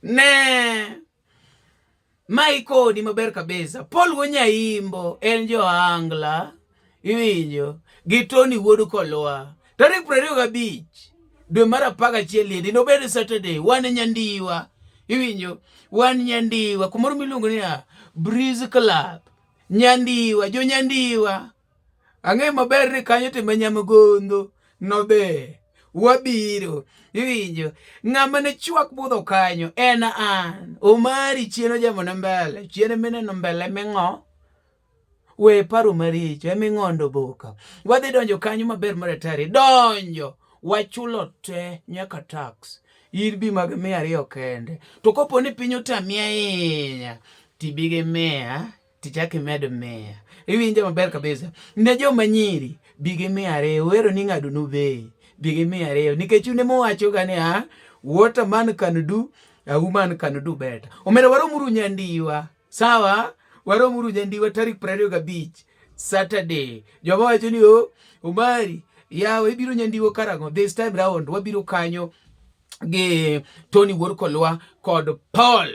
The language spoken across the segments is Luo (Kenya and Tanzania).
ne ma ikoni maber kabisa Paul Wonyaimbo en jo angla iwinjo gi Tony Wuod Kolwa tarik piero ariyo gabich dwe mar apar gachiel yedi nobed Saturday wan Nyandiwa iwinjo wan Nyandiwa kumoro miluongo niya Breeze Club Nyandiwa jo Nyandiwa Ang'eyo maber ni kanyo to ma nyamgondo nodhi. Wabiro. Iwinjo? Ng'ama ne chwak budho kanyo en an. Omari chien ojamona mbele. Chien mineno mbele ming'o. We paro maricho. Eming'ondo boka. Wadhi donjo kanyo maber maratari. Donjo. Wachulo te nyaka tax. Ir bi mag mia ariyo kende. To kopo ni piny otami ahinya, tibi gi mia tichak imed miya. Iwinja maber kabisa. Ne joma nyiri, bi gi miya ariyo. Wero ni ng'ado nube, bi gi miya ariyo. Nikech une muwacho ga ni, ah, what a man can do, a woman can do better. Omera waromuru nyandiwa. Sawa? Waromuru nyandiwa tarik prariyo gabich. Saturday. Joma wacho ni, oh, Omari, yawa ibiro nyandiwo karango this time round wabiro kanyo gi Tony Wuor Kolwa kod Paul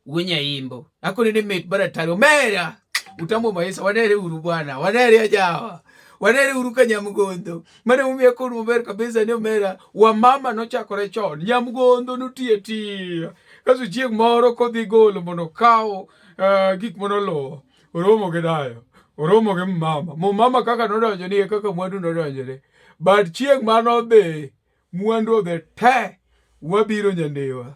Wenyayimbo akone ne met baratari omera utambo maisa wanere uru bwana wanere ajawa wanere uru ka nyamgondo mane umie kod maber kabisa ni omera wamama nochakore chon nyamgondo notiye tiya kaso chieng' moro kodhi golo mondo okaw uh, eh, gik monolowo oromo gi dayo oromo gi mama mumama kaka nodonjo ni kaka mwandu nodonjore but chieng' mano dhi mwandu odhi te wabiro nyandewa